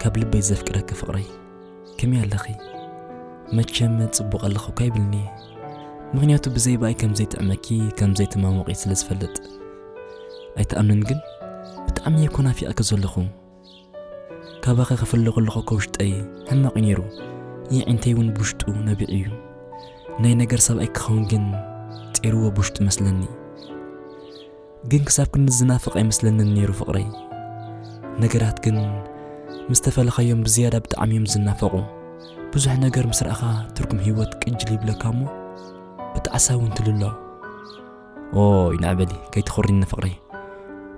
ካብ ልበይ ዘፍቅረኪ ፍቕረይ ከመይ ኣለኺ መቸም ጽቡቕ ኣለኹ እኳ ይብልኒ ምክንያቱ ብዘይ ብኣይ ከም ዘይጥዕመኪ ከም ዘይተማሞቂ ስለ ዝፈልጥ ኣይትኣምንን ግን ብጣዕሚ እየ ኮ ናፊቐኪ ዘለኹ ካባኺ ክፍለ ከለኹ እኮ ውሽጠይ ሕማቕ እዩ ነይሩ የዒንተይ እውን ብውሽጡ ነቢዑ እዩ ናይ ነገር ሰብኣይ ክኸውን ግን ጤርዎ ብውሽጡ መስለኒ ግን ክሳብ ክንዲ ዝናፍቕ ኣይመስለንን ነይሩ ፍቕረይ። ነገራት ግን ምስ ተፈለኻዮም ብዝያዳ ብጣዕሚ እዮም ዝናፈቑ። ብዙሕ ነገር ምስ ረኣኻ ትርጉም ህይወት ቅጅል ይብለካ እሞ ብጣዕሳ እውን ትልሎ። ኦይ ንዕበሊ ከይትኹሪኒ ፍቕረይ፣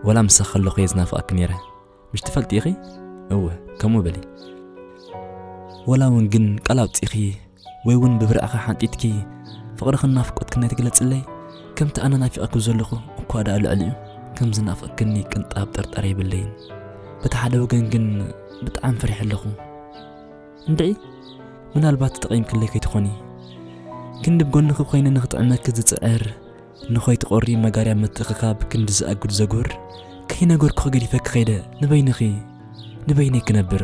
ወላ ምሳኺ ከለኹ እየ ዝናፍቐኪ ነይረ። ምሽ ትፈልጢ ኢኺ እወ ከምኡ በሊ ወላ እውን ግን ቃል ኣውፂእኺ ወይ እውን ብብርዕኺ ሓንጢትኪ ፍቕርኽን ናፍቆትክን ናይ ትግለፅለይ ከምቲ ኣነ ናፊቐኪ ዘለኹ እኳ ደኣ ልዕሊኡ ከም ዝናፍቕክኒ ቅንጣብ ጥርጠር የብለይን በቲ ሓደ ወገን ግን ብጣዕሚ ፈሪሐ ኣለኹ እንድዒ ምናልባት ተጠቒምክለይ ከይትኾኒ ክንዲ ብጎንኺ ኮይነ ንክጥዕመኪ ዝፅዕር ንኸይትቖሪ መጋርያ ምትእኽኻብ ክንዲ ዝኣጉድ ዘጉህር ከይነገርኩኺ ገዲፈኪ ከይደ ንበይንኺ ንበይነይ ክነብር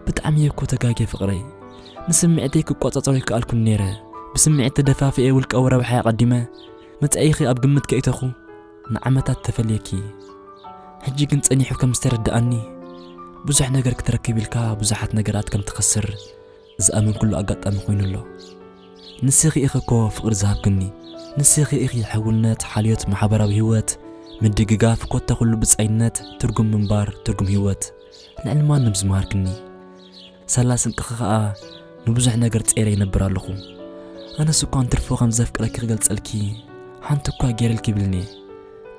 ብጣዕሚ እየ እኮ ተጋጌ ፍቕረይ ንስምዒተይ ክቆጻጸሮ ይከኣልኩን ነይረ ብስምዒት ተደፋፍኤ ውልቃዊ ረብሓይ ኣቐዲመ መጻኢኺ ኣብ ግምት ከኢተኹ ንዓመታት ተፈልየኪ ሕጂ ግን ጸኒሑ ከም ዝተረድኣኒ ብዙሕ ነገር ክትረክብ ኢልካ ብዙሓት ነገራት ከም ትኸስር ዝኣመንክሉ ኣጋጣሚ ኮይኑ ኣሎ። ንስኺ ኢኺ እኮ ፍቕሪ ዝሃብክኒ፣ ንስኺ ኢኺ ሕውነት፣ ሓልዮት፣ ማሕበራዊ ህይወት፣ ምድግጋፍ፣ ኮታ ኩሉ ብጻይነት፣ ትርጉም ምንባር፣ ትርጉም ህይወት ልዕሊ ማንም ዝመሃርክኒ። ሳላ ስንቅኺ ከኣ ንብዙሕ ነገር ጸይረ ይነብር ኣለኹ። ኣነስ እኳ እንትርፎ ከም ዘፍቅረኪ ክገልጸልኪ ሓንቲ እኳ ገይረልኪ ይብልኒ።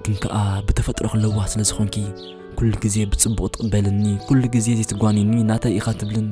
ግን ከኣ ብተፈጥሮኺ ለዋህ ስለ ዝኾንኪ ኩሉ ግዜ ብጽቡቕ ትቕበልኒ፣ ኩሉ ግዜ ዘይትጓንኒ ናተይ ኢኻ ትብልኒ።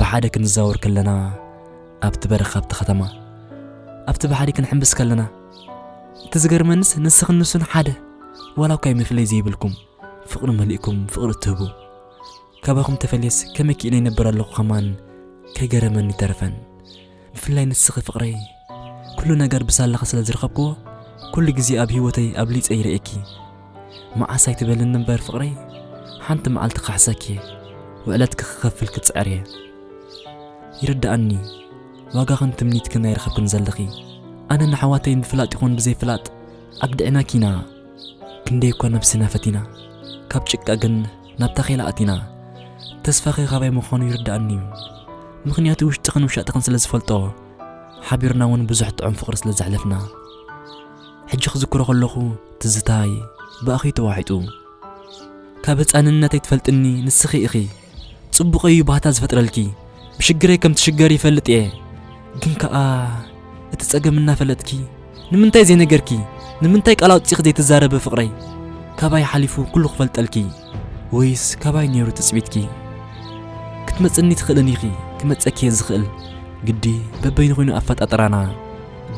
ብሓደ ክንዛወር ከለና ኣብቲ በረኻ ኣብቲ ከተማ ኣብቲ ባሕሪ ክንሕምብስ ከለና እቲ ዝገርመንስ ንስኽን ንሱን ሓደ ዋላ እኳ መፍለይ ዘይብልኩም ፍቕሪ መሊእኩም ፍቕሪ እትህቡ ካባኹም ተፈልየስ ከመይ ክኢነ ይነብር ኣለኹ ከማን ከይገረመኒ ተረፈን ብፍላይ ንስኺ ፍቕረይ ኩሉ ነገር ብሳላኺ ስለ ዝረኸብክዎ ኩሉ ግዜ ኣብ ሂወተይ ኣብሊጸ ይርእየኪ መዓስ ኣይትበልኒ እምበር ፍቕረይ ሓንቲ መዓልቲ ክሓሰኪ እየ ውዕለትኪ ክኸፍል ክጽዕር እየ ይርድኣኒ ዋጋኽን ትምኒትክን ኣይረኸብክን ዘለኺ ኣነ ንኣሕዋተይ ብፍላጥ ይኹን ብዘይፍላጥ ኣግዲዕናኪ ኢና ክንደይ እኳ ነብስና ፈቲና ካብ ጭቃ ግን ናብ ታኼላ ኣቲና። ተስፋኺ ካባይ ምዃኑ ይርድኣኒ እዩ፣ ምኽንያቱ ውሽጥኽን ውሻጥኽን ስለ ዝፈልጦ፣ ሓቢርና እውን ብዙሕ ጥዑም ፍቕሪ ስለ ዘሕለፍና። ሕጂ ክዝክሮ ከለኹ ትዝታይ ብኣኺ ተዋሒጡ። ካብ ህጻንነተይ ትፈልጥኒ ንስኺ ኢኺ፣ ጽቡቕ እዩ ባህታ ዝፈጥረልኪ። ብሽግረይ ከም ትሽገሪ ይፈልጥ እየ ግን ከኣ እቲ ጸገም እናፈለጥኪ ንምንታይ ዘይነገርኪ ንምንታይ ቃል ኣውጺኺ ዘይትዛረቢ ፍቕረይ ካባይ ሓሊፉ ኩሉ ክፈልጠልኪ ወይስ ካባይ ነይሩ ትጽቢትኪ ክትመጽኒ ትኽእልን ኢኺ ክመጸኪ እየ ዝኽእል ግዲ በበይኑ ኮይኑ ኣፈጣጥራና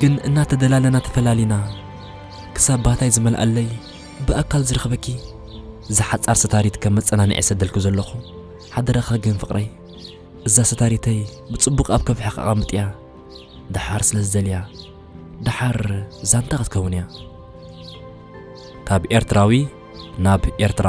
ግን እናተደላለና ተፈላሊና ክሳብ ባታይ ዝመልኣለይ ብኣካል ዝረኽበኪ ዝሓጻር ስታሪት ከም መጸናንዒ ሰደልኩ ዘለኹ ሓደራኻ ግን ፍቕረይ እዛ ሰታሪተይ ብጽቡቕ ኣብ ከብሕኽ ኣቐምጥያ ደሓር ስለ ዝደልያ ደሓር ዛንታ ክትከውን እያ። ካብ ኤርትራዊ ናብ ኤርትራ